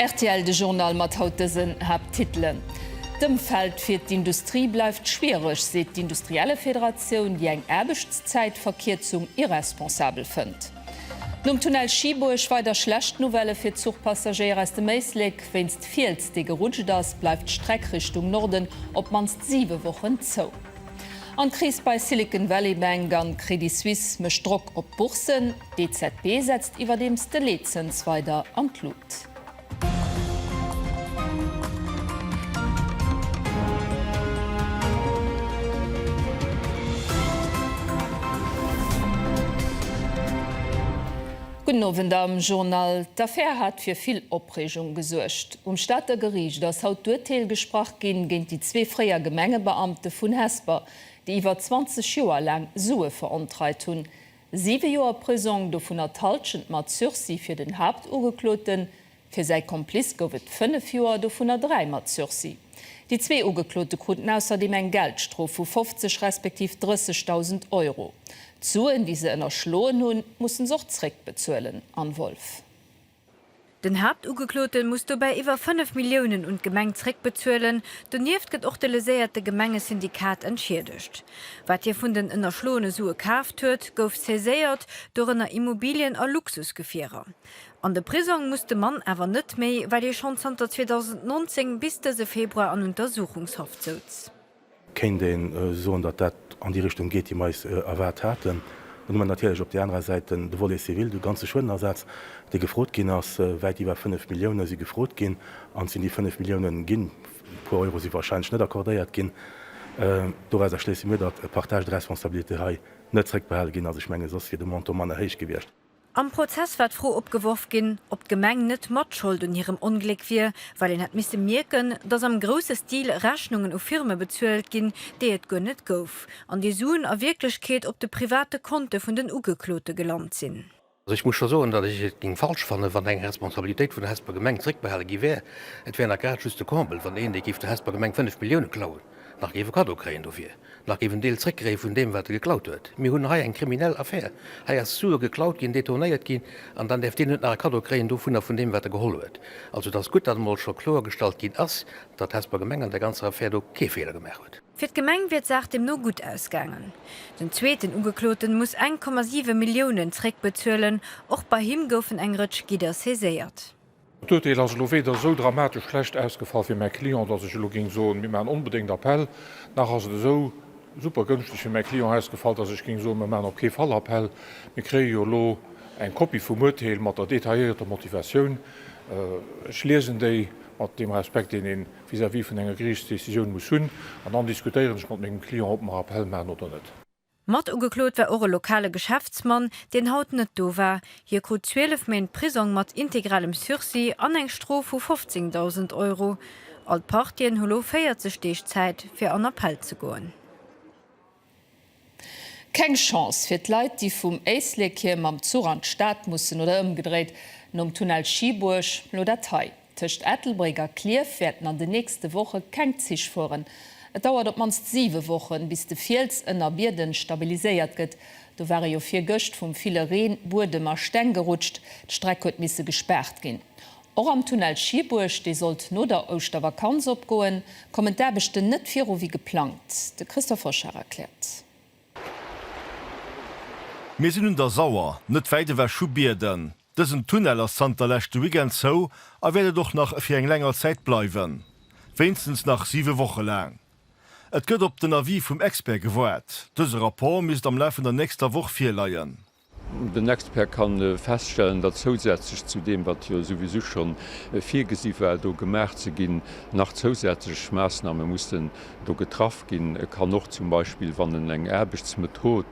Rtl, de Journal mat haut dësen Haapttitelen, D'Ëmfeld fir d'Industrie bleift schwiereg, seet d'Industriellefederatioun, déi eng Aarbechtszäitverkierzung irresponsabel fënnt. Nom Tunnel Schieburg weider schlecht Nouvellë fir d'Zuchpassagéier aus dem Éislek. Wéinst Fiels, dee gerutscht ass, bleift d'Streck Richtung Norden op d'mannst siwe Wochen zou. An d'Kris bei Silicon Valley Bank an Credit Suisse mécht Drock op d'Bourssen. D'EZB setzt iwwerdeems de Leetzëns weider an d'Lut. Gudden Owend. Am Journal d'Affaire hat fir vill Opreegung gesuergt. Um Stater Geriicht ass haut d'Urteel gesprach ginn géint déi zwee fréier Gemengebeamte vun Hesper, déi iwwer 20 Joer laang Sue verontreit hunn. Siwe Joer Prisong, dovunner d'Halschent mat Sursis fir den Haaptugekloten. Fir säi Komplice gouf et fënnef Joer, dovunner dräi mat Sursis. Déi zwee Ugeklote kruten ausserdeem eng Geldstrof vu 50 respektiv 30.000 Euro. D'Suen, déi se ënnerschloen hunn, musse se och zréckbezuelen, Anne Wolff. Den Haaptugeklote muss dobäi iwwer 5 Milliounen un d'Gemeng zréckbezuelen. Donieft gëtt och de léséierte Gemengesyndikat entschiedegt. Wat hie vun den ënnerschloene Sue kaaft huet, gouf saiséiert, dorënner Immobilien a Luxusgefierer. An de Prisong muss de Mann awer net méi, well hie schonn zanter 2019 bis dëse Februar an Untersuchungshaft souz. kéint ee soen, datt dat an déi Richtung geet, déi mer eis erwaart haten. Dann hu mer natierlech op där anerer Säit de Volet civil, de ganze Schuedenersaz, dee gefrot ginn ass. Wäit iwwer 5 Milliounen si gefrot ginn. An et sinn déi 5 Milliounen ginn. E puer Euro si warscheinlech net accordéiert ginn. Dorauser schléisse mir, datt par tâche de responsabilité hei net zrëckbehale ginn ass. Ech menge soss wier de Montant manner héich gewiescht. Am Prozess war d'Fro opgeworf ginn, ob d'Gemeng net Matschold un hirem Ongléck wier, well een hätt misse mierken, datt am grousse Stil Rechnungen u Firme bezuelt ginn, déi et guer net gouf, an déi Suen a Wierklechkeet op de private Konte vun den Ugeklote gelant sinn. Also ech muss scho soen, datt ech et géing falsch fannen, wann eng Responsabilitéit vun der Hesper Gemeng zréckbehale gi wär. Et wär nach grad just de Comble, wann een, dee géif der Hesper Gemeng 5 Milliounen klauen, nach géif e Kaddo kréien dofir. Nach géif en Deel zréckgréie vun deem, wat e geklaut huet. Mir hunn hei eng kriminell Affär. Hei ass Sue geklaut ginn, detournéiert ginn, an dann däerf deen net nach e Kaddo kréien dovunner, vun deem, wat e geholl huet. Also et ass gutt, datt emol scho kloergestallt ginn ass, datt d'Hesper Gemeng an där ganzer Affär do kee Feeler gemaach huet. Fir d'Gemeng wier d'Saach deemno gutt ausgaangen. Den zweeten Ugekloten muss eng Komma siwe Milliounen zréckbezuelen. Och bei him goufen eng Rëtsch Gidder saiséiert. D'Urteel ass elo weder esou dramatesch schlecht ausgefall fir mäi Client, dass ech elo géing soen, mir maachen onbedéngt Appell, nach ass et esou super gënschteg fir mäi Client ausgefall, dass ech géing soen, mir maachen op kee Fall Appell. Mir kréie jo elo eng Kopie vum Urteel mat der detailléierter Motivatioun. Ech liesen déi, mat deem Respekt, deen ee vis-à-vis vun enger Geriichtsdecisioun muss hunn, an dann diskutéieren ech mat mengem Client, ob mer Appell maachen oder net. Mat ugeklot war och e lokale Geschäftsmann, deen haut net do war. Hie krut 12 Méint Prisong mat integralem Sursis an eng Strof vu 15.000 Euro. All d'Partien hu lo 40 Deeg Zäit, fir an Appell ze goen. Keng Chance fir d'Leit, déi vum Éislekir mam Zuch an d'Stad mussen oder ëmgedréit nom Tunnel Schieburg lo dat hei. Tëscht Ettelbréck a Klierf wäerten an de nächste Woche keng Zich fueren. Et dauert op d'mannst siwe Wochen, bis de Fiels ënner Bierden stabiliséiert gëtt. Do ware jo virgëscht vum ville Reen Buedem a Steng gerutscht. D'Streck huet misse gespaart ginn. Och am Tunnel Schieburg, dee sollt no der Ouschtervakanz opgoen, kommen d'Aarbechten net viru wéi geplangt. De Christophe Hoschar erkläert. Mir sinn un der Sauer, net wäit ewech vu Bierden. Dësen Tunnel ass zanter leschte Weekend zou a wäert et och nach fir eng länger Zäit bleiwen, wéinstens nach siwe Woche laang. Et gëtt op den Avis vum Expert gewaart. Dëse Rapport misst am Laf vun der nächster Woch virleien. Den Expert ka feststellen, datt zousätzlech zu deem, wat jo souwisou scho virgesi war do gemaach ze ginn, nach zousätzlech Maassname mussen do getraff ginn. E kann och zum Beispill, wann en eng Aarbechtsmethod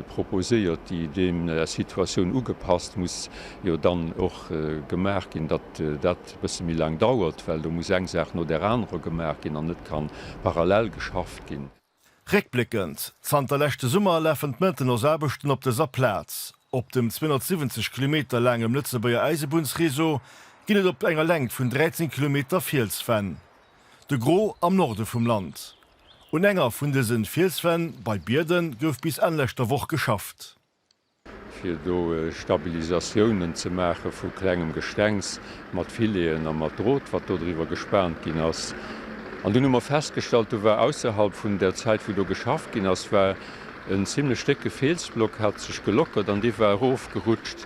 proposéiert, déi deer Situatioun ugepasst muss jo dann och gemaach ginn, datt dat e bësse méi laang dauert, well do muss eng Saach no där anerer gemaach ginn an net kann parallel geschafft ginn. Réckbléckend, Zanter leschte Summer lafen d'Maintenancsaarbechten op dëser Plaz. Op dem 270 Kilometer laangem Lëtzebuerger Äisebunnsreseau ginn et op enger Längt vun 13 Kilometer Fielswänn, de Gros am Norde vum Land, Un enger vun dësen Fielswänn bei Bierden gouf bis Enn leschter Woch geschafft. Fir do Stabilisatiounen ze maache vu klengem Gestengs mat Filet'en a mat Drot wat do driwwer gespaant ginn ass. An dunn hu mer festgestallt, do war ausserhalb vun der Zäit wou do geschafft ginn ass, war en zimlech décke Fielsblock hat sech gelockert an dee war erof gerutscht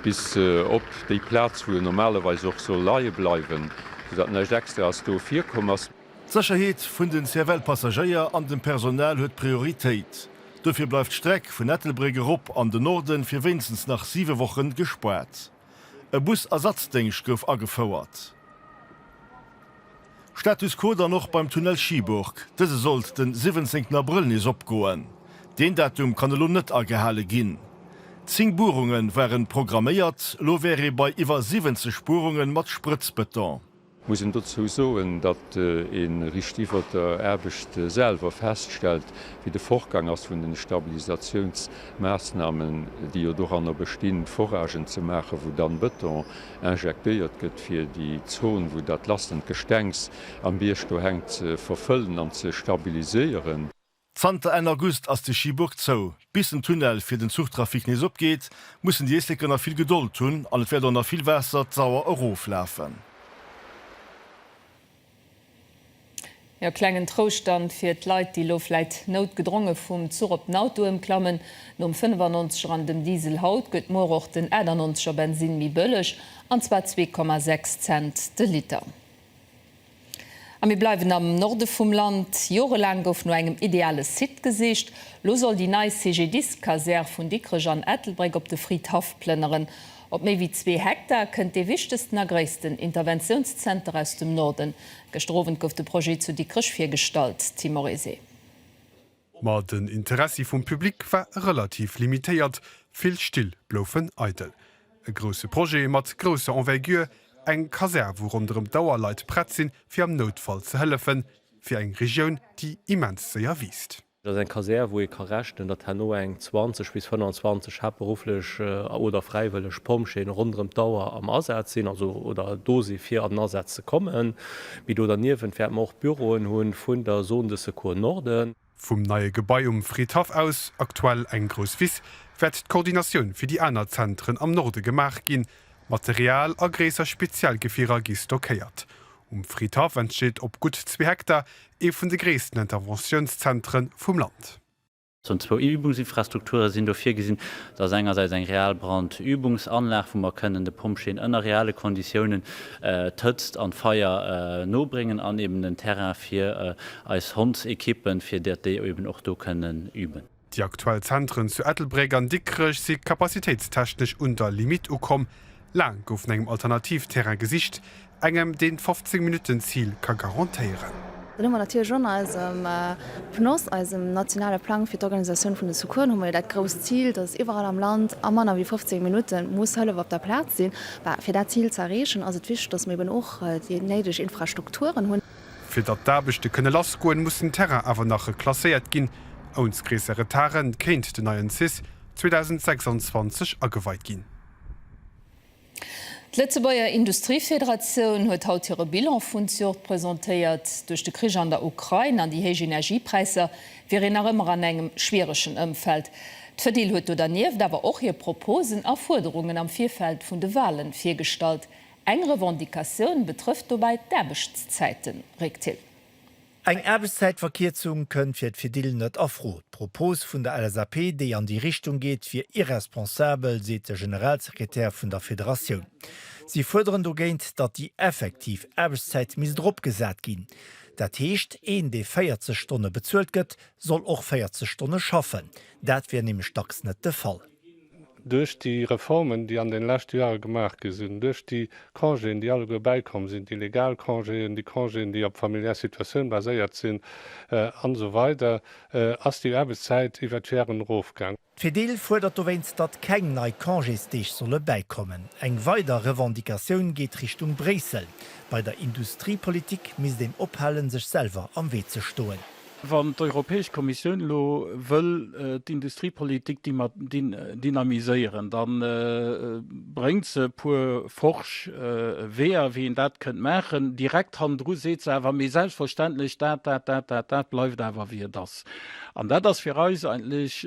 bis op déi Plaz wou en normalerweis och soll leie bleiwen, sou dat näischt extra ass do virkomm ass. D'Sécherheet vun den CFL-Passagéier an dem Personal huet Prioritéit. Dofir bleift d'Streck vun Ettelbréck erop an de Norden fir wéinstens nach 7 Wochen gespaart. E Bus-Ersatzdéngscht gouf agefouert. Status quo dann och beim Tunnel Schieburg. Dëse sollt den 17 Abrëll nees opgoen. Deen Datum kann elo net agehale ginn. 10 Buerunge waren programméiert, elo wär ee bei iwwer 70 Buerunge mat Sprëtzbëton. Muss een dozou soen, datt een richt iwwert der Aarbecht selwer feststellt, wéi de Fortgang ass vun den Stabilisatiounsmaassnahmen, déi jo doranner bestinn, d'Foragen ze maachen, wou dann Beton injektéiert gëtt, fir déi Zone, wou dat lassend Gestengs am Bierg do hänkt, ze verfëllen an ze stabiliséieren. Zanter Enn August ass de Schibuerg zou. Bis den Tunnel fir den Zuchtrafic nees opgeet, mussen déi Éisleker nach vill Gedold hunn an et wäert och nach vill Waasser d'Sauer erof lafen. Jo, klengen Trouscht dann fir d'Leit, déi lo vläit noutgedronge vum Zuch op den Auto ëmklammen. Nom 95 er an dem Diesel haut, gëtt muer och den 98 er Bensinn méi bëlleg, an zwar 2,6 Cent de Liter. A mir bleiwen am Norde vum Land. Jorelaang gouf no engem ideale Site gesicht. Lo soll déi nei CGDIS-Kasär vun Dikrech an Ettelbréck op de Fridhaff plënneren. Op méi wéi zwee Hektar kënnt dee wichtegsten a gréissten Interventiounszenter aus dem Norden. Gëschter Owend gouf de Projet zu Dikrech virgestallt, Tim Oryse. Ma den Interessi vum Public war relativ limitéiert, vill Still bloufen eidel. E grousse Projet mat grousser Envergure, eng Kasär wou ronderëm d'Auer Leit prett sinn fir am Noutfall ze hëllefen, fir eng Regioun déi immens séier wiisst. Et ass eng Kasär wou ee ka rechnen, datt herno eng 20 bis 25 haaptberufflech oder fräiwëlleg Pompjeeën ronderëm d'Auer am Asaz sinn, also oder do si fir an den Asaz ze kommen. Mee do derniewent wäerte mer och Büroen hu vun der Zone de secours Norden. Vum neie Gebai um Fridhaff aus, aktuell eng grouss Wiss, wäert d'Koordinatioun fir déi aner Zentren am Norde gemaach ginn. Material a gréisser Spezialgefierer gi stockéiert. Um Fridhaff entsteet op gutt zwee Hektar ee vun de gréissten Interventiounszentren vum Land. Zone zwou, Übungsinfrastrukture sinn do virgesinn. Dat ass engersäits eng real Brandübungsanlag, wou mer kënnen de Pompjeeën ënner reale Konditiounen d'Hëtzt an d'Feier nobréngen an eben en Terrain fir eis Hondsequippen, fir datt déi eben och do kënnen üben. Déi aktuell Zentren zu Ettelbréck an Dikrech si kapazitéitstechnesch un der Limitt ukomm. Laang gouf no engem Alternativterrain gesicht, Engem deen d'fofzéng Minutten Zil ka garantéieren. Dann hu mer natierlech an eisem PNOS, eisem nationale Plang fir d'Organisatioun vun den Secoursen, hu mer jo dat grousst Zil, dass iwwerall am Land a manner wéi fofzéng Minutte muss Hëllef op der Plaz sinn. Bah, fir dat Zil ze erreechen, ass et wichteg, dass mer eben och déi néideg Infrastrukturen hunn. Fir datt d'Aarbechte kënne lass goen, muss den Terrain awer nach reklasséiert ginn. Ouns gréisser Retarden kéint den neien cis 2026 ageweit ginn. D'Lëtzebuerger Industriefederatioun huet haut hire Bilan vun Zjort presentéiert. Duerch de Krich an der Ukrain an déi héich Energiepräisser wier een nach ëmmer an engem schwieregen Ëmfeld. D'Fedil huet do dernieft awer och hir Proposen a Fuerderungen am Virfeld vun de Walen virgestallt. Eng Revendicatioun betrëfft dobäi d'Aarbechtszäiten, réckt Thill. Eng Aarbechtszäitverkierzung kënnt fir d'Fedil net a Fro. D'Propos vun der LSAP, déi an déi Richtung geet, wier irresponsabel, seet de Generalsekretär vun der Federatioun. Si fuerderen dogéint, datt déi effektiv Aarbechtszäit misst eropgesat ginn. Dat heescht, een, dee 40 Stonne bezuelt gëtt, soll och 40 Stonne schaffen. Dat wier nämlech dacks net de Fall. Duerch déi Reformen, déi an den leschte Joere gemaach gi sinn, duerch déi Congéen, déi alleguer bäikomm sinn, déi legal Congéen, déi Congéen, déi op familiär Situatioun baséiert sinn, an esou weider ass déi Aarbechtszäit iwwert d'Jaren erofgaang. D'Fedil fuerdert dowéinst, datt keng nei Congésdeeg solle bäikommen. Eng weider Revendicatioun geet Richtung Bréissel. Bei der Industriepolitik misst een ophalen, sech selwer am Wee ze stoen. Wann d'Europäesch Kommissioun elo wëll d'Industriepolitik dynamiséieren, da bréngt se e puer forsch Weeër, wéi een dat kënnt maachen. Direkt hannendru seet se awer, Mee selbstverständlech, dat, dat, dat, dat, dat bleift awer wéi et ass. An dat ass fir eis eigentlech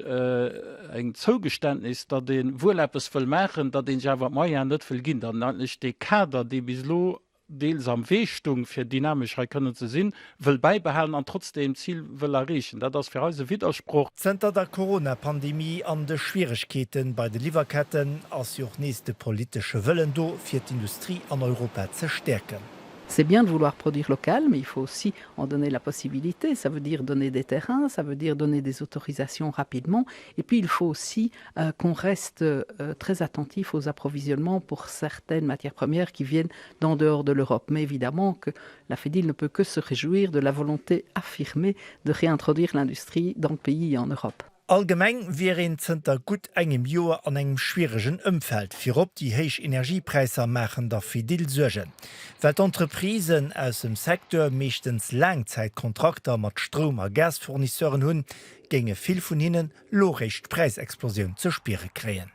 eng Zougeständnis, datt ee wuel eppes wëll maachen, datt ee sech awer d'Moyen net wëll ginn, datt een eigentlech dee Kader, dee bis elo deels am Wee stung, fir dynamesch hei kënnen ze sinn, wëll bäibehalen an trotzdeem d'Zil wëll erreechen. Dat ass fir eis e Widdersproch. Zënter der Corona-Pandemie an de Schwieregkeete bei de Liwwerketten ass jo och nees de politesche Wëllen do, fir d'Industrie an Europa ze stäerken. C'est bien de vouloir produire local, mais il faut aussi en donner la possibilité, ça veut dire donner des terrains, ça veut dire donner des autorisations rapidement et puis il faut aussi qu'on reste très attentif aux approvisionnements pour certaines matières premières qui viennent d'en dehors de l'Europe, mais évidemment que la Fedil ne peut que se réjouir de la volonté affirmée de réintroduire l'industrie dans le pays et en Europe. Allgemeng wier een zënter gutt engem Joer an engem schwieregen Ëmfeld. Virop déi héich Energiepräisser maachen der Fedil Suergen. Well d'Entreprisen aus dem Secteur meeschtens Laangzäitkontrakter mat Stroum a Gasfournisseuren hunn, géinge vill vun hinnen elo réischt d'Präisexplosioun ze spiere kréien.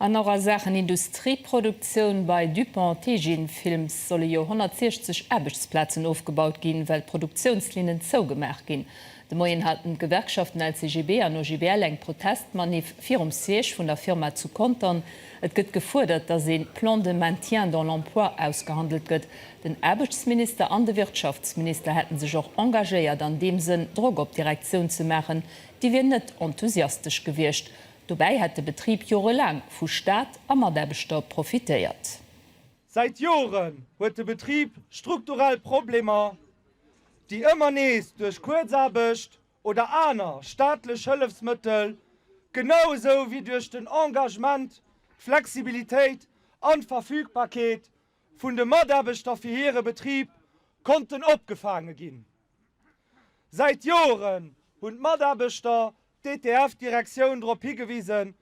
An och a Saachen Industrieproduktioun, Bei Dupont Teijin Films solle jo 160 Aarbechtsplazen ofgebaut ginn, well d'Produktiounslinnen zougemaach ginn. De Moien haten d'Gewerkschaften LCGB an OGBL eng Protestmaniff virum Siège vun der Firma zu Contern. Et gëtt gefuerdert, datt ee Plan de maintien dans l'emploi ausgehandelt gëtt. Den Aarbechtsminister an de Wirtschaftsminister hätte sech och engagéiert an deem Sënn, Drock op d'Direktioun ze maachen, déi wier net enthusiastesch gewiescht. Dobäi hätt de Betrib jorelaang vu Staat a Mataarbechter profitéiert. Säit Joren huet de Betrib strukturell Problemer, déi ëmmer nees duerch Kuerzaarbecht oder aner staatlech Hëllefsmëttel, genau esou wéi duerch den Engagement, d'Flexibilitéit an d'Verfügbarkeet vun de Mataarbechter fir hire Betrib konnten opgefaange ginn. Säit Joren hunn d'Mataarbechter d'ETF-Direktioun drop higewisen,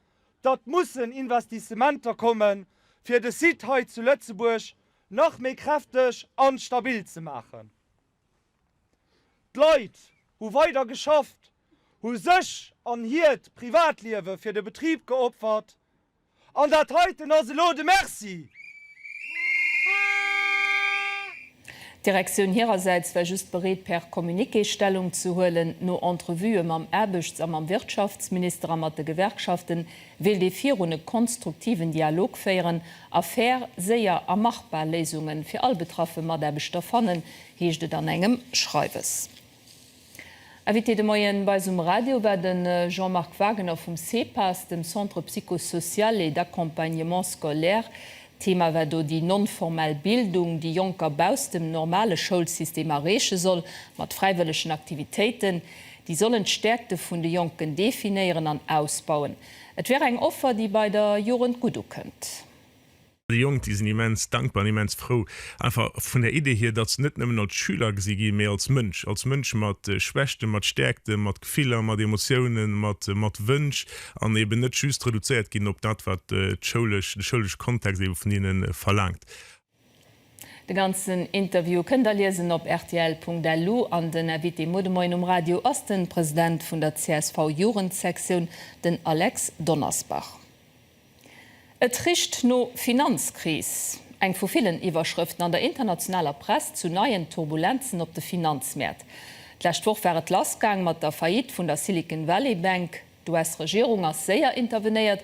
datt mussen Investissementer kommen, fir de Site hei zu Lëtzebuerg nach méi kräfteg an stabil ze maachen. D'Leit hu weider geschafft, hu sech an hiert Privatliewe fir de Betrib geopfert. An dat heiten ass elo de Merci! D'Direktioun hirersäits war just bereet per Communiqué Stellung ze huelen. No Entrevuë mam Aarbechts a mam Wirtschaftsminister a mat de Gewerkschafte wéilt ee virun e konstruktiven Dialog féieren a fair, séier a machbar Léisunge fir all betraffe Mataarbechter fannen, heescht et an engem Schreiwes. Invité de Moien bei eis um Radio war de Jean-Marc Wagener vum CEPAS, dem Centre Psycho-Social et d'Accompagnement Scolaire. Thema war do déi non-formell Bildung, déi Jonker bausst dem normale Schoulsystem erreeche soll, mat fräiwëllegen Aktivitéiten. Déi sollen d'Stäerkte vun de Jonken definéieren an ausbauen. Et wär eng Offer, déi bei der Jugend gutt ukënnt. Déi Jonk, déi sinn immens dankbar an immens frou einfach vun der Idee hier, datt se net nëmmen als Schüler gesi ginn, mee als Mënsch, als Mënsch mat Schwächten, mat Stäerkten, mat Gefiller, mat Emotiounen, mat Wënsch an eben net just reduzéiert ginn op dat, wat d'schoulesch, de schoulesche Kontext ebe vun hinnen verlaangt. De ganzen Interview kënnt der liesen op rtl.lu an den Invité muer de Moien um Radio ass de President vun der csv-Jugendsektioun, den Alex Donnersbach. Et richt no Finanzkris, eng vu villen Iwwerschrëften an der internationaler Press zu neien Turbulenzen op de Finanzmäert. D'lescht Woch war et lass gaang mat der Faillite vun der Silicon Valley Bank. D'US-Regierung ass séier intervenéiert,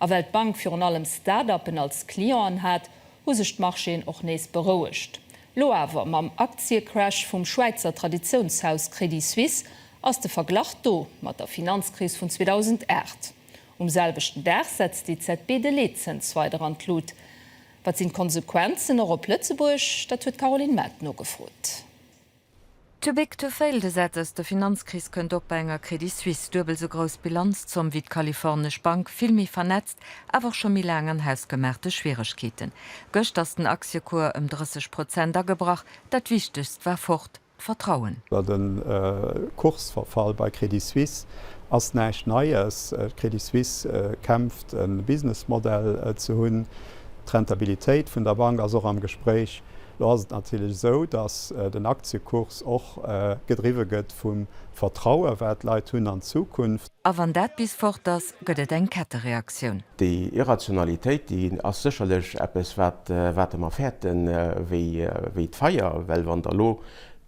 a well d'Bank virun allem Start-uppen als Clienten hat, hu sech d'Marchéen och nees berouegt. Lo awer, mam Aktiecrash vum Schwäizer Traditiounshaus Crédit Suisse, ass de Verglach do mat der Finanzkris vun 2008. Um selwechten Dag setzt d'EZB de Leetzëns weider an d'Lut. Wat sinn d'Konsequenzen och op Lëtzebuerg? Dat huet d'Caroline Mart nogefrot. Too big to fail, de Sätz De Finanzkris kënnt och bei enger Credit Suisse. Duebel esou grouss Bilanzzomm wéi d'kalifornesch Bank, vill méi vernetzt, awer och scho méi laang an hausgemaachte Schwieregkeeten. Gëscht ass den Aktiekuer ëm 30 Prozent agebrach, dat Wichtegst war fort. Vertrauen. De Kursverfall bei Credit Suisse ass näischt Neies. D'Credit Suisse kämpft, e Businessmodell ze hunn. D'Rentabilitéit vun der Bank ass och am Gespréich. Lo ass et natierlech esou, datt den Aktiekurs och gedriwwe gëtt vum Vertrauen, wat d'Leit hunn an d'Zukunft. A wann dat bis fort ass, gëtt et eng Kettereaktioun. Déi Irrationalitéit, déi ass sécherlech eppes, wat, wat Der mer fäerte wéi, wéi d'Feier. Well wann Der elo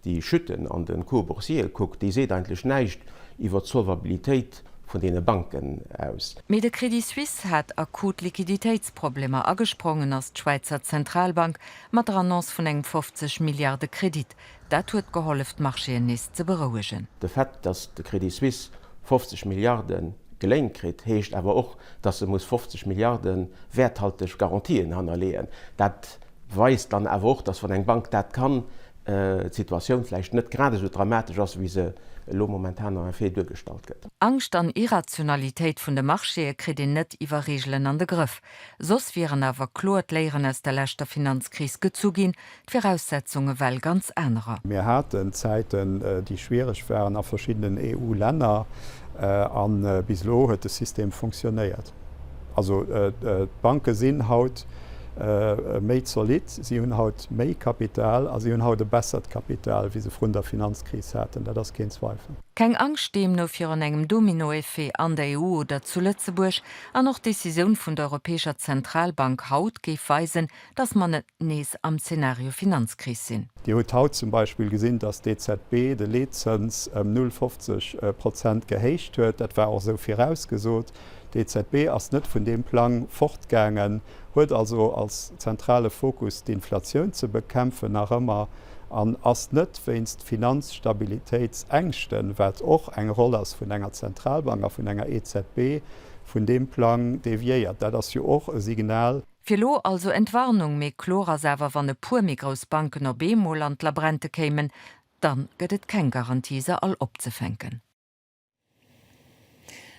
déi Chuten an de Cours boursier kuckt, déi seet eigentlech näischt iwwert d'Solvabilitéit vun deene Banken aus. Mee de Crédit Suisse hat akut Liquiditéitsproblemer a gesprongen ass d'Schwäizer Zentralbank mat der Annonce vun engem 50 Milliarde Kredit. Dat huet gehollef d'Marchéen nees ze berouegen. De Fait, datt de Crédit Suisse 50 Milliarde geléint kritt, heescht awer och, datt se muss 50 Milliarde wäerthalteg Garantien hannerleeën. Dat weist dann awer och, datt wann eng Bank dat kann, d'Situatioun vläicht net grad esou dramatesch ass, wéi se elo momentan en effet duergestallt gëtt. Angscht an Irrationalitéit vun de Marchéë kritt een net iwwer Reegelen an de Grëff. Soss wieren awer kloer d'Léieren aus der leschter Finanzkris gezu ginn, D'Viraussetzunge well ganz anerer. Mir haten Zäiten, déi schwiereg waren a verschiddenen EU-Länner, a bis elo huet de System funktionéiert. Also d'Banke sinn haut méi zolidd, si hunn haut méi Kapital a si hunn haut e bessert Kapital, wéi se vrun der Finanzkris haten. Dat ass keen Zweifel. Keng Angscht deemno virun engem Dominoeffet an der EU oder zu Lëtzebuerg. An och d'Decisioun vun der Europäescher Zentralbank haut géif weisen, dass mer net nees am Zeenario Finanzkris sinn. Dir hutt haut zum Beispill gesinn, dass d'EZB de Leetzëns ëm 0,50 Prozent gehéicht huet. Dat war och esou virausgesot. D'EZB ass net vun deem Plang fortgaangen, huet also als zentrale Fokus d'Inflatioun ze bekämpfen nach ëmmer an ass net wéinst Finanzstabilitéitsängschten, wat och eng Roll ass vun enger Zentralbank a vun enger EZB, vun deem Plang deviéiert. Dat ass jo och e Signal. Fir lo also Entwarnung, mee kloer ass awer, wann e puer méi grouss Banken op eemol an d'Labrente kéimen, dann gëtt et keng Garantie se all opzefänken.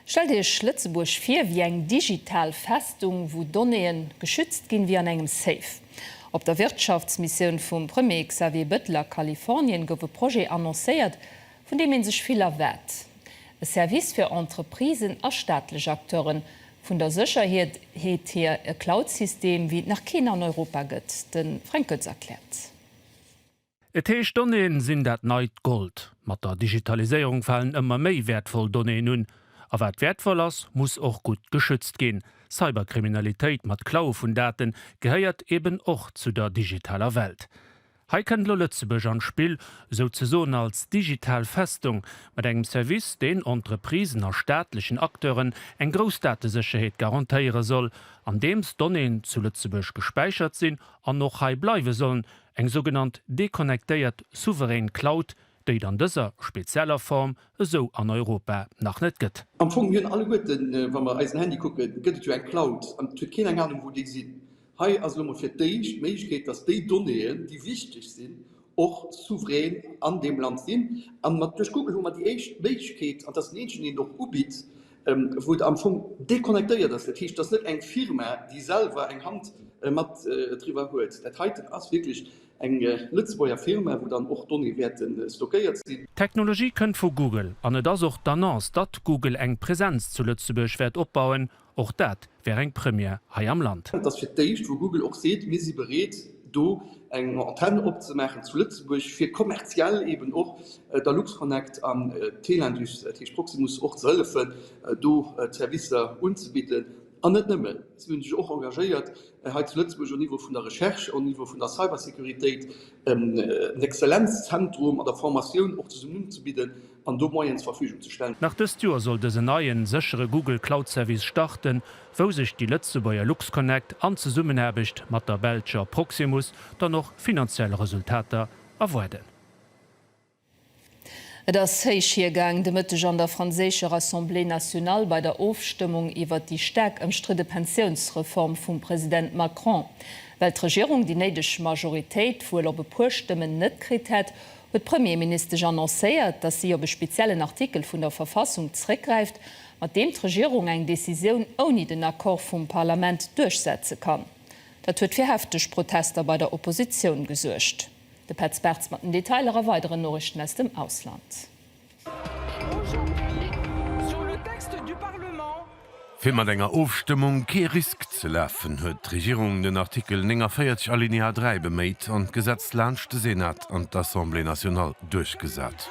Stellt Iech Lëtzebuerg vir wéi eng digital Festung, wou Donnéeën geschützt ginn wéi an engem Safe. Op der Wirtschaftsmissioun vum Premier Xavier Bettel a Kalifornien gouf e Projet annoncéiert, vun deem ee sech vill erwaart, e Service fir Entreprisen a staatlech Acteuren, Vun der Sécherheet heet hir, e Cloud-System, wéi et nach keen an Europa gëtt. De Fränk Goetz erkläert. Et heescht, Donnéeën sinn dat neit Gold. Mat der Digitaliséierung falen ëmmer méi wäertvoll Donnéeën un. A wat wäertvoll ass, muss och gutt geschützt ginn. Cyberkriminalitéit mat Klaue vun Daten gehéiert eben och zu der digitaler Welt. Hei kënnt elo Lëtzebuerg an d'Spill, souzesoen als digital Festung, mat engem Service, deen Entreprisen a staatlechen Acteuren eng grouss Datesécherheet garantéiere soll, andeems Donnéeën zu Lëtzebuerg gespäichert sinn an och hei bleiwe sollen, eng sougenannt deconnectéiert souverän Cloud, déi et an dëser spezieller Form esou an Europa nach net gëtt. Am Fong, mir hunn alleguerten, wa mer eisen Handy kucken, gëtt et jo eng Cloud, an et huet keen eng Anung, wou déi sinn. Hei ass elo mol fir d'éischt d'Méiglechkeet, dass déi Donnéeën, déi wichteg sinn, och souverän an deem Land sinn. An mat duerch Google hu mer déi éischt Méiglechkeet, an dat ass déi eenzeg, déi een och ubitt, wou et am Fong deconnectéiert ass. Dat heescht, et ass net eng Firma, déi selwer eng Hand mat driwwer huet. Dat heiten ass wierklech eng Lëtzebuerger Firma, wou dann och d'Donnéeë wäerte stockéiert sinn. D'Technologie kënnt vu Google an et ass och d'Annonce, datt Google eng Presenz zu Lëtzebuerg wäert opbauen, Och dat wär eng Première hei am Land. Et ass fir d'éischt, wou Google och seet, mir si bereet do eng Antenn opzemaachen zu Lëtzebuerg, fir kommerziell eben och der Luxconnect an Telindus, dat heescht Proximus, och ze hëllefen do d'Servicer unzebidden. An net nëmmen, si hunn sech och engagéiert hei zu Lëtzebuerg au Niveau vun der Recherche, au Niveau vun der Cybersécuritéit en Exzellenzzentrum an der Formatioun och zesummen unzebidden. an do Moyenen zur Verfügung ze stellen. Nach dëst Joer soll dësen neien, séchere Google Cloud Service starten, wou sech déi Lëtzebuerger LuxConnect an Zesummenaarbecht mat der belscher Proximus dann och finanziell Resultater erwaarden. Et ass héich hiergaang de Mëtteg an der franséischer Assemblée nationale bei der Ofstëmmung iwwert déi staark ëmstridde Pensiounsreform vum President Macron. Well d'Regierung déi néideg Majoritéit wuel op e puer Stëmmen net kritt hätt, huet d'Premierministesch annoncéiert, datt si op e speziellen Artikel vun der Verfassung zréckgräift, mat deem d'Regierung eng Decisioun ouni den Accord vum Parlament duerchsetze kann. Dat huet fir hefteg Protester bei der Oppositioun gesuergt. De Petz Bartz mat den Detailer a weideren Noriichten aus dem Ausland. Fir mat enger Ofstëmmung kee Risk ze lafen, huet d'Regierung den Artikel 49 Alinéa 3 beméit an d'Gesetz laanscht de Senat an d'Assemblée nationale duerchgesat.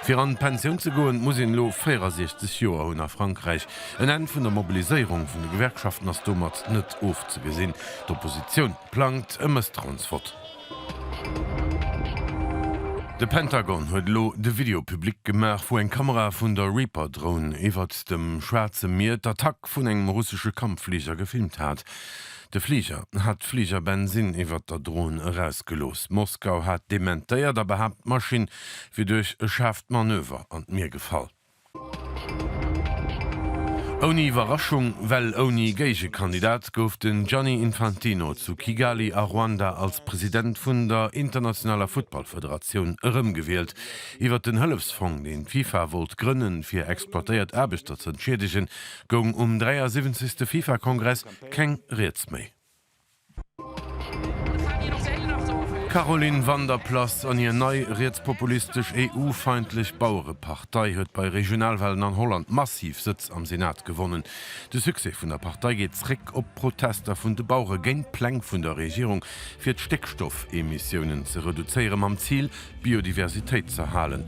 Fir an d'Pensioun ze goen, muss een elo 64 Joer hunn. A Frankräich En Enn vun der Mobiliséierung vun de Gewerkschaften ass domat net ofzegesinn. D'Oppositioun plangt e Mësstrauensvott. De Pentagon huet elo de Video public gemaach, wou eng Kamera vun der Reaper Drone iwwert dem Schwaarze Mier d'Attack vun engem russesche Kampffliger gefilmt hat. De Fliger hat d'Fliger Bensin iwwert der Drone erausgelooss. Moskau hat dementéiert a behaapt, d'Maschinn wier duerch e schaarft Manöver an d'Mier gefall. Ouni Iwwerraschung, well ouni Géigekandidat, gouf den Gianni Infantino zu Kigali a Ruanda als President vun der internationaler Futtballfederatioun erëmgewielt. Iwwer den Hëllefsfong, deen d'FIFA wollt grënnen, fir exploitéiert Aarbechter z'entschiedegen, goung um 73. FIFA-Kongress keng Rieds méi. D'Caroline Van der Plas an hir nei rietspopulistesch EU-feindlech Bauerepartei huet bei Regionalwahlen an Holland massiv Sëtz am Senat gewonnen. De Succès vun der Partei geet zréck op d'Protester vun de Bauere géint d'Pläng vun der Regierung fir d'Stéckstoffemissiounen ze reduzéiere mam Zil d'Biodiversitéit z'erhalen.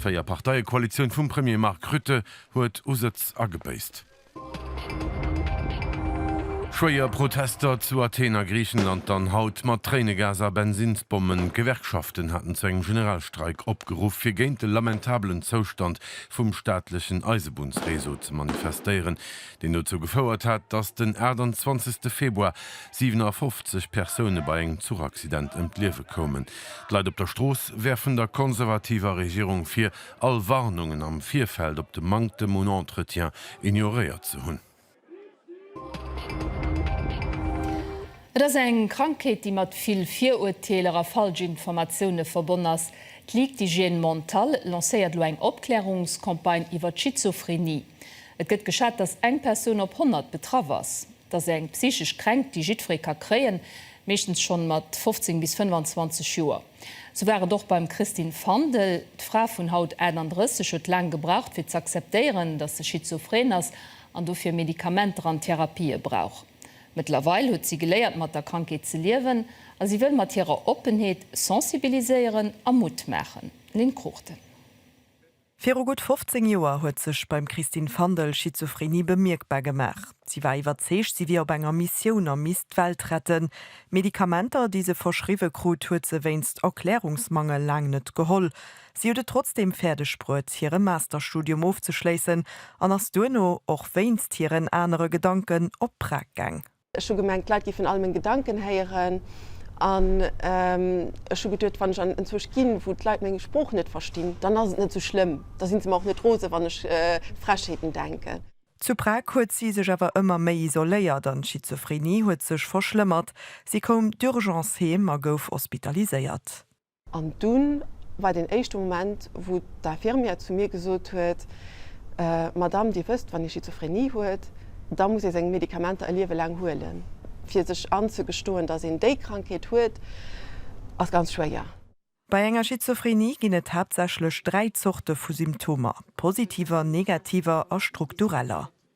D'Véier-Parteie-Koalitioun vum Premier Mark Rutte huet u Sëtz agebéisst. Schwéier Protester zu Athen a Griichenland dann haut mat Tréinegas a Bensinnsbommen. D'Gewerkschaften haten zu engem Generalstreik opgeruff, fir géint de lamentabelen Zoustand vum staatlechen Eisebunnsreseau ze manifestéieren, deen dozou gefouert hat, datt den 28 Februar 57 Persoune bei engem Zuchaccident ëm d'Liewe koumen. D'Leit op der Strooss werfen der konservativer Regierung vir, all Warnungen am Virfeld op de Manktem un Entretien ignoréiert ze hunn. Et ass eng Krankheet, déi mat vill Virurteeler a falsch Informatioune verbonn ass. D'Ligue d'hygiène mentale lancéiert elo eng Opklärungscampagne iwwer d'Schizophrenie. Et gëtt geschat, datt eng Persoun op 100 betraff ass. Et ass eng psychesch Kränkt, déi jiddweree ka kréien, meeschtens schonn mat 15 bis 25 Joer. Sou war et och beim Christine Fandel. D'Fra vun haut 38 huet laang gebraucht fir z'acceptéieren, datt se schizophren ass an dofir Medikamenter an Therapië brauch. Mëttlerweil huet si geléiert mat der Krankheet ze liewen a si wëll mat hirer Oppenheet sensibiliséieren a Mutt maachen. Lynn Cruchten. Viru gutt 15 Joer huet sech beim Christine Fandel Schizophrenie bemierkbar gemaach. Si war iwwerzeegt, si wier op enger Missioun a misst d'Welt retten. Medikamenter, déi se verschriwwe krut, huet se wéinst Erklärungsmangel laang net geholl. Si huet et trotzdeem fäerdeg bruet, hire Masterstudium ofzeschléissen an ass duerno, och wéinst hiren anere Gedanken, op Prag gaang. Ech hu gemengt, d'Leit géifen all meng Gedanken héieren, an ech hu geduet, wann ech an en Zuucht ginn, wou d'Leit meng Sprooch net verstinn, dann ass et net esou schlëmm, da si se mer och net rose wann ech Frechheeten denken. Zu Prag huet si sech awer ëmmer méi isoléiert an d'Schizophrenie huet sech verschlëmmert. Si koum d'Urgence heem a gouf hospitaliséiert. An dunn war deen éischte Moment, wou d'Infirmière zu mir gesot huet, Madame, Dir wësst, wann ee Schizophrenie huet, da muss ee seng Medikamenter e Liewe laang huelen. Fir sech anzegestoen, datt een déi Krankheet huet, ass ganz schwéier. Bei enger Schizophrenie ginn et haaptsächlech dräi Zorte vu Symptomer, positiver, negativer a struktureller.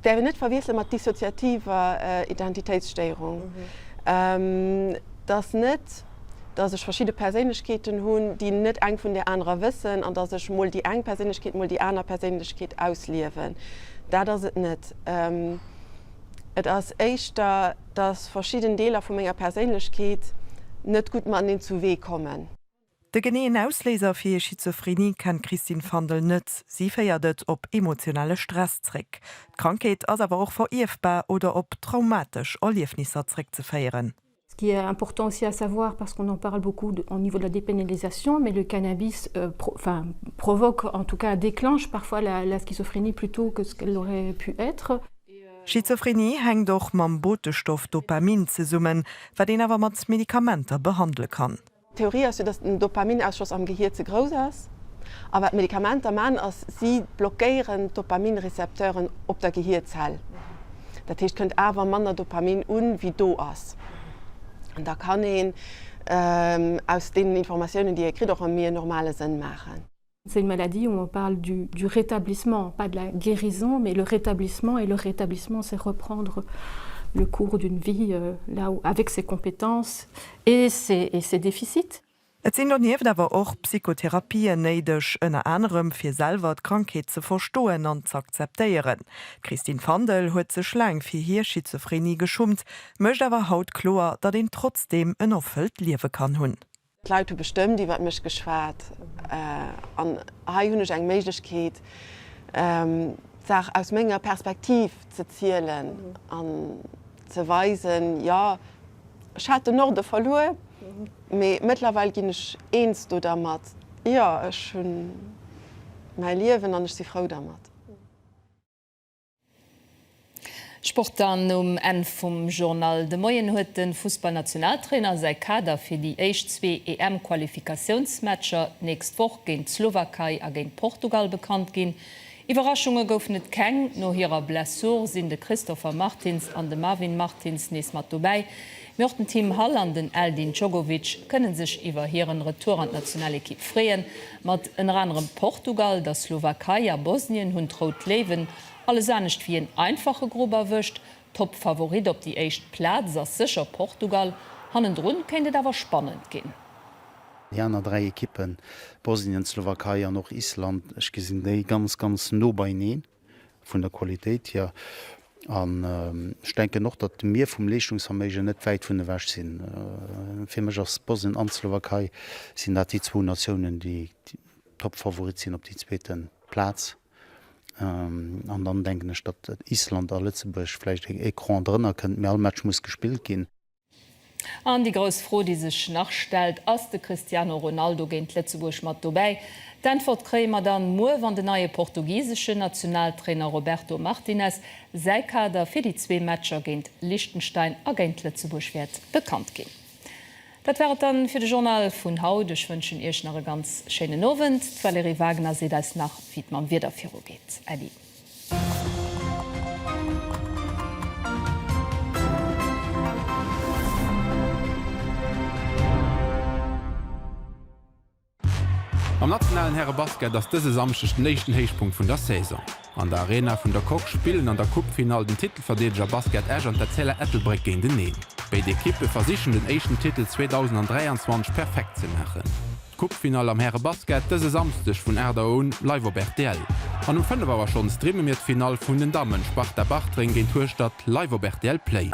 Däerf een net verwiessele mat dissoziativer Identitéitsstéierung. Et ass net, datt ech verschidde Perséinlechkeeten hunn, déi net eng vun där anerer wëssen an datt ech mol déi eng Perséinlechkeet, mol déi aner Perséinlechkeet ausliewen. Dat ass et net. Et ass éischter, datt verschidden Deeler vu menger Perséinlechkeet net gutt mateneen zu Wee kommen. De geneeën Ausléiser fir hir Schizophrenie kennt d'Christine Fandel net. Si féiert et op emotionale Stress zréck. D'Krankheet ass awer och verierfbar oder op traumatesch Erliefnisser zréckzeféieren. Ce qui est important aussi à savoir, parce qu'on en parle beaucoup au niveau de la dépénalisation, mais le cannabis provoque, en tout cas déclenche parfois la schizophrénie plus tôt que ce qu'elle aurait pu être. Schizophrenie hänkt och mam Botestoff Dopamin zesummen, wat een awer mat Medikamenter behandele kann. D'Theorie ass jo, datt den Dopaminausschoss am Gehier ze grouss ass. A wat d'Medikamenter man ass, si blockéieren d'Dopaminrecepteuren op der Gehierzell. Dat heescht, kënnt awer manner Dopamin un, wéi do ass. An da kann een aus deenen Informatiounen, déi ee kritt, och e méi normale Sënn maachen. C'est une maladie où on parle du du rétablissement, pas de la guérison, mais le rétablissement et le rétablissement c'est reprendre le cours d'une vie là où avec ses compétences et ses et ses déficits. Et sinn donieft awer och Psychotherapien néideg, ënner anerem fir selwer d'Krankheet ze verstoen an z'akzeptéieren. D'Christine Fandel huet sech laang fir hir Schizophrenie geschummt, mécht awer haut kloer, datt een trotzdeem en erfëllt Liewe kann hunn. D'Leit hu bestëmmt iwwert mech geschwat an hei hunn ech eng Méiglechkeet, d'Saach aus menger Perspektiv ze zielen an ze weisen, jo, ech hat de Norde verluer, mee mëttlerweil ginn ech eens do dermat, jo, ech hu mäi Liewen an ech si frou dermat. Sport dann um Enn vum Journal. De Moien huet de Fussballnationaltrainer säi Kader fir déi éischt zwee EM-Qualifikatiounsmatcher d'nächst Woch géint d'Slowakei a géint Portugal bekannt ginn. Iwwerraschunge goufen et keng. No hirer Blessure sinn de Christopher Martins an de Marvin Martins nees mat dobäi. Mee och den Tim Hall an den Eldin Djogovic kënne sech iwwer hiren Retour an d'Nationalekipp freeën. Mat ënner anerem Portugal, der Slowakei a Bosnien hunn d'Rout Léiwen alles anescht wéi een einfache Grupp erwëscht. Toppfavorit op déi éischt Plaz ass sécher Portugal, hannendrun kéint et awer spannend ginn. Déi aner 3 Ekippen, Bosnien, d'Slowakei an och Island, ech gesinn déi ganz, ganz no beineen. vun der Qualitéit hier an ech denken och, datt mir vum Leeschtungsverméigen net wäit vun ewech sinn. Fir mech ass Bosnien an d'Slowakei sinn dat déi zwou Natiounen, déi Topfavorit sinn op déi zweete Plaz. An dann denken ech, datt Island a Lëtzebuerg vläicht e Cran drënner kënnt, mee all Match muss gespillt ginn. An déi grouss Fro, déi sech nach stellt, Ass de Cristiano Ronaldo géint Lëtzebuerg mat dobäi? D'Äntwert kréie mer dann muer, wann den neie portugiseschen Nationaltrainer Roberto Martinez säi Kader fir déi zwee Matcher géint Liechtenstein a géint Lëtzebuerg wäert bekannt ginn. Dat war et dann fir de Journal vun haut. Ech wënschen Iech nach e ganz schéinen Owend. D'Valérie Wagner seet eis nach, wéi et mam Wieder virugeet. Äddi. Am nationalen Härebasket ass dëse Samschdeg den éischten Héichpunkt vun der Saison. An der Arena vun der Coque spillen an der Coupefinall den Titelverdeedeger Basket Esch an d'Etzella Ettelbréck géinteneen. Béid Ekippe versichen den éischten Titel 2023 perfekt ze maachen. D'Coupe-Finall am Häre-Basket dëse Samsdeg vun 8 Auer un live op rtl. An um 5 Auer schonn streame mir d'Finall vun den Dammen, Sparta Bartreng géint Hueschtert, live op rtl Play.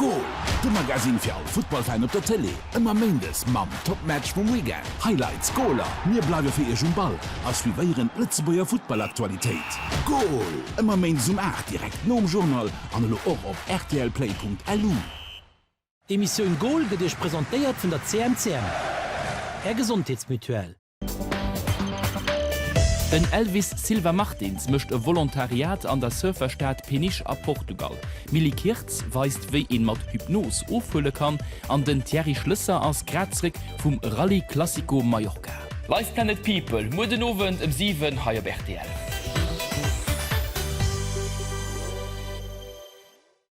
Goal, de Magasinn fir all Futtballfan op der Tëlee. Ëmmer Méindes mam Top-Match vum Weekend, Highlights, Goaler. Mir bleiwe fir Iech um Ball a suivéieren d'Lëtzebuerger Futtball-Aktualitéit. Goal, ëmmer Méindes um 8, direkt nom Journal an elo och op rtlplay.lu. D'Emissioun Goal gëtt Iech presentéiert vun der CMCM, Är Gesondheetsmutuelle. Den Elvis Silva Martins mécht e Volontariat an der Surferstad Peniche a Portugal, d'Milly Kirtz weist wéi een mat Hypnos ofhuele kann an den Thierry Schlësser ass grad zréck vum Rallye Classico Mallorca. Live Planet People, muer den Owend ëm 7 hei op rtl.